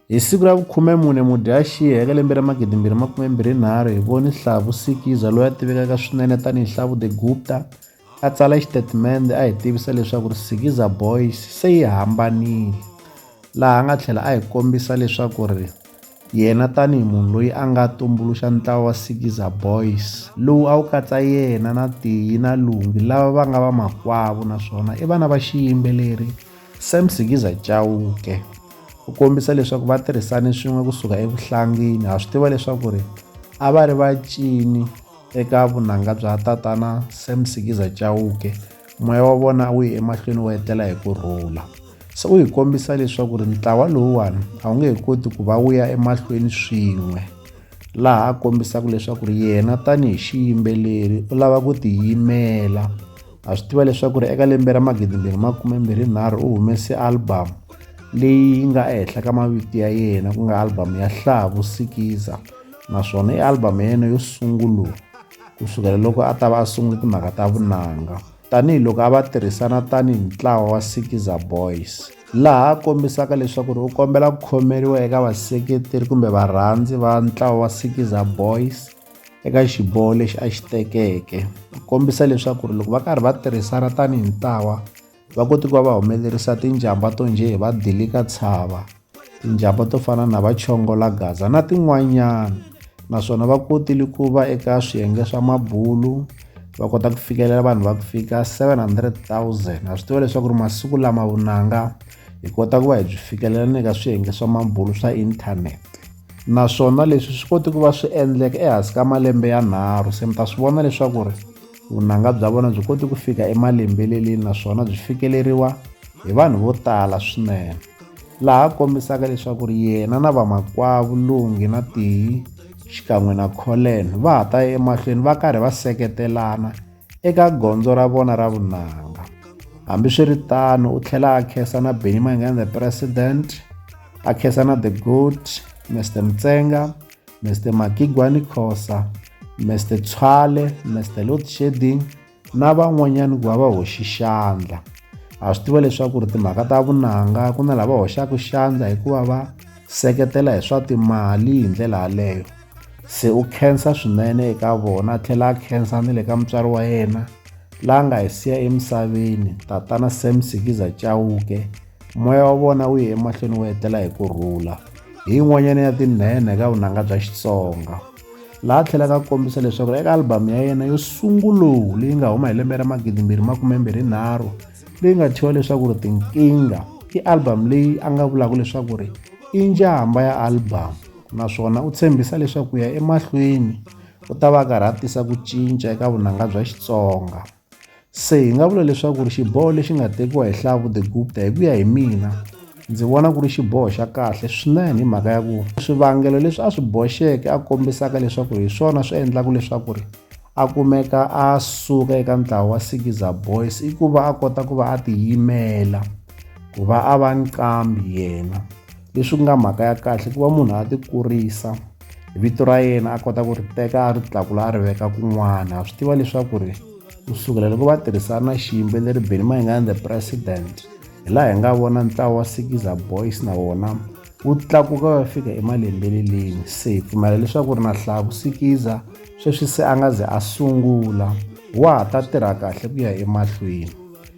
Hi siku ra vu-14 Mudyaxihi eka lembe ra 2023 hi vone Hlavu Sikiza loyi a tivekaka swinene tani hi Hlavu The Gupta a tsala xitatimende a hi tivisa leswaku ri Sikiza Boys se yi hambanile laha a nga tlhela a hi kombisa leswaku ri yena tani hi munhu loyi a nga tumbuluxa ntlawa wa Sikiza Boys lowu a wu katsa yena na Tiyi na Lungi lava va nga va makwavo naswona i vana va xiyimbeleri Sam Sikiza Chauke u kombisa leswaku va tirhisane swin'we kusuka evuhlangini ha swi tiva leswaku ri a va ri vacini eka vunanga bya tatana Sam Sikiza Chauke moya wa vona wu ye emahlweni wu etlela hi ku rhula se u hi kombisa leswaku ri ntlawa lowuwani a wu nge he koti ku va wu ya emahlweni swin'we laha a kombisaka leswaku ri yena tanihi xiyimbeleri u lava ku tiyimela ha swi tiva leswaku ri eka lembe ra magidi mbirhi makume mbirhi nharhu u humese album leyi nga ehenhla ka mavito ya yena ku nga album ya hlaha vusikiza naswona i album ya yena yo sungula ku sukela loko a ta va a sungule timhaka ta vunanga tanihiloko a va tirhisana tanihi ntlawa wa sikiza boys laha a kombisaka leswaku ri u kombela ku khomeriwa eka vaseketeri kumbe varhandzi va ntlawa wa sikiza boys eka xiboho lexi a xi tekeke ku kombisa leswaku ri loko va karhi va tirhisana tanihi ntlawa va kote ku va va humelerisa tinjhamba to njhe hi vadilika tshava tinjhamba to fana na va chongola gaza na tin'wanyana naswona va kotile ku va eka swiyenge swa mabulu va kota ku fikelela vanhu va ku fika 700 000 ha swi tiva leswaku ri masiku lama vunanga hi kota ku va hi byi fikelela ni ka swiyenge swa mabulo swa inthanete naswona leswi swi koti ku va swi endleka ehansi ka malembe yanharhu se mi ta swi vona leswaku ri vunanga bya vona byi koti ku fika emalembeleleni naswona byi fikeleriwa hi vanhu vo tala swinene laha kombisaka leswaku ri yena na vamakwavo lungi na tiyi xikan'we na colen va ha ta ya emahlweni va karhi va seketelana eka gondzo ra vona ra vunanga. Hambiswiritano u tlhela a khensa na Benny Mayengani the president, a khensa na the goat Mr Mtsenga, Mr Makigwani Khosa, Mr Tshwale, Mr Load Shedding na van'wanyani ku va va hoxi xandla. Ha swi tiva leswaku ri timhaka ta vunanga ku na lava hoxaka xandla hikuva va seketela hi swa timali hi ndlela yaleyo. se u khensa swinene eka vona a tlhela a khensa ni le ka mutswari wa yena la nga hi siya emisaveni tatana sam sikiza chauke moya wa vona wu ye emahlweni wu etlela hi ku rhula hi yin'wanyana ya tinhenhe ka vunanga bya xitsonga laha tlhelaka a kombisa leswaku eka albhamu ya yena yo sunguluwu leyi nga huma hi lembe ra magidimbirhi makumembirhi nharhu leyi nga thyiwa leswaku ri tinkingha i albhamu leyi a nga vulaka leswaku ri i njhamba ya albhamu naswona u tshembisa leswaku ku ya emahlweni u ta va a karhi a tisa ku cinca eka vunanga bya Xitsonga. Se hi nga vula leswaku ri xiboho lexi nga tekiwa hi Hlavu the Gupta hi ku ya hi mina ndzi vona ku ri xiboho xa kahle swinene hi mhaka ya ku swivangelo leswi a swi boxeke a kombisaka leswaku hi swona swi endlaka leswaku ri a kumeka a suka eka ntlawa wa Sikiza Boys i ku va a kota ku va a tiyimela ku va a va nqambi yena. leswi ku nga mhaka ya kahle ku va munhu a ti kurisa vito ra yena a kota ku ri teka a ri tlakula a ri veka kun'wana a swi tiva leswaku ri ku sukela loko va tirhisana xiyimbeleri beni mayingani the president hi laha hi nga vona ntlawa wa sikiza boys na wona wu tlakuka va fika emalembeleleni se hi pfumela leswaku ri na hlaya ku sikiza sweswi se a nga ze a sungula wa ha ta tirha kahle ku ya emahlweni